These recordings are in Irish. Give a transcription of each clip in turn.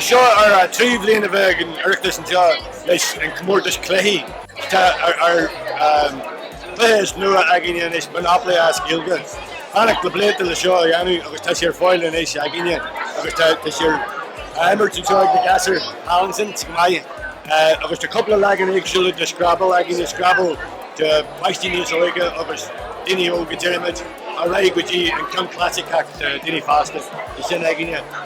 Seo ar an tríú bliain a bheith ag an Oireachtas anseo leis an gcomórtas cluichí atá ar Cluiche is nua againne anois, Monopoly as Gaeilge. ag fanacht le blianta le seo a dhéanamh agus tá sé ar fáil anois againne agus tá tá sé á imirt anseo ag na gasúir Townsend go maith agus tá cúpla leagan éagsúla de Scrabble againne, Scrabble do pháistí níos óige agus daoine óga. ar aghaidh go dtí an ceann clasaiceach do dhaoine fásta, is sin againne.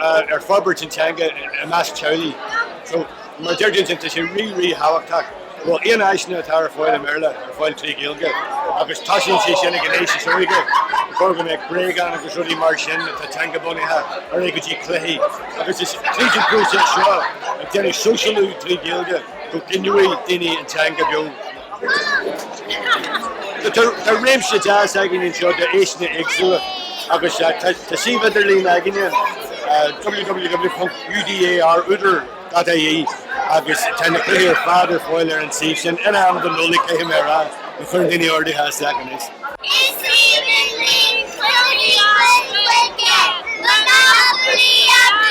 ar forbairt an teanga i measc teaghlaigh. So, mar a deirim, tá sé rí, rí thábhachtach go bhfuil aon áiseanna atá ar fáil i mBéarla ar fáil tré Ghaeilge agus tosaíonn sé sin ag an aois is óige, gur gá go mbeadh bréagáin agus rudaí mar sin atá teanga bunaithe ar aghaidh go dtí cluichí agus is tríd an próiseas seo ag déanamh sóisialú trí Ghaeilge go gcoinneoidh daoine an teanga beo. Tá réimse deas againn anseo d'áiseanna éagsúla agus tá suíomh idirlín againn in www.udar.ie agus tá na cluichí ar fad ar fáil ar an suíomh sin, in am don Nollaig caithfidh mé a rá, má chuireann daoine orduithe isteach anois. Is aoibhinn linn cluichí an chluiche, Monopoly Abú!